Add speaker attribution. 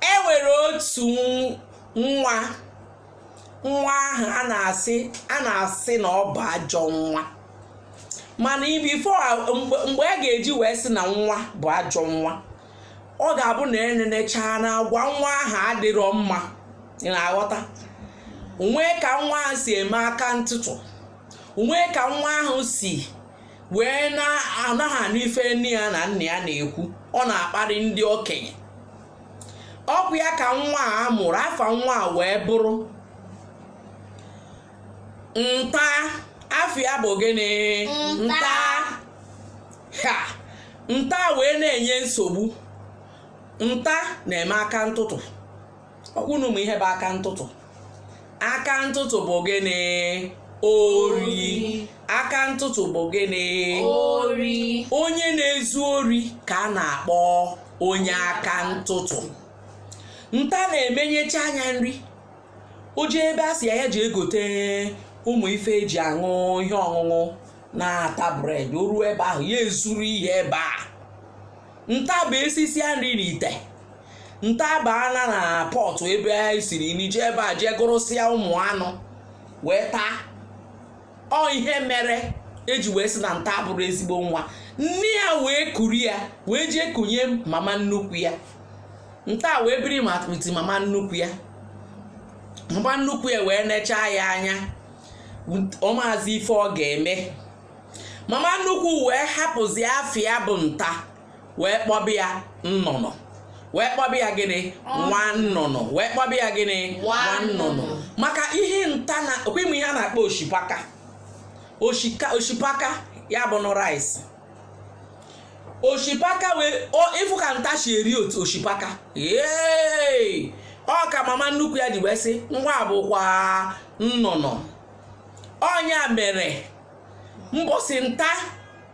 Speaker 1: e nwere otu nwa nwa ahụ a na-asị a na-asị na ọ bụ ajọ nwa mana before mgbe a ga-eji wee sị na nwa bụ ajọ nwa ọ ga-abụ na e nenechaa na agwa nwa ahụ adịrọ mma ị na-aghọta nwee ka nwa ahụ si eme aka ntụtụ nwee ka nwa ahụ si wee na-anaghị anụ ife nne ya na nna ya na-ekwu ọ na-akparị ndị okenye ọ bụ ya ka nwa a mụrụ afa nwa a wee bụrụ nta afa ya bụ gịnị Nta. ha nta wee na-enye nsogbu nta na-eme aka ntụtụ ọ kwa ụnụ ma ihe bụ aka ntụtụ aka ntụtụ bụ gịnị ori aka ntụtụ bụ gịnị ori
Speaker 2: onye
Speaker 1: na-ezu ori ka a na-akpọ onye aka ntụtụ nta na-emenyecha anya nri o jee ebe a sị ya ya jee gote ụmụ ife eji aṅụ ihe ọṅụṅụ na-ata bread o ruo ebe ahụ ya ezuru ihe ebe a nta bụ e sisịa nri n'ite nta abaana na pọtụ ebe e siri nri jee ebe a jee gụrụsịa ụmụ anụ wee taa ọ ihe mere eji wee sị na nta abụrọ ezigbo nwa nne ya wee kuru ya wee jee kunye mama nnukwu ya nta wee biri ma piti mama nnukwu ya mama nnukwu ya wee nechaa ya anya ọ maazị ife ọ ga-eme mama nnukwu wee hapụzi afa ya bụ nta wee kpọba ya nnụnụ wee kpọba ya gịnị nwa nnụnụ wee kpọba ya gịnị nwa nnụnụ maka ihe nta na ọ kwa ị ma ihe a na-akpọ oshipaka oshika oshipaka ya bụnụ rice oshipaka wee ị fụ ka nta si eri otu oshipaka ee ọ ka mama nnukwu ya ji wee sị nwa a bụkwa nnụnụ ọ nya mere mbọsị nta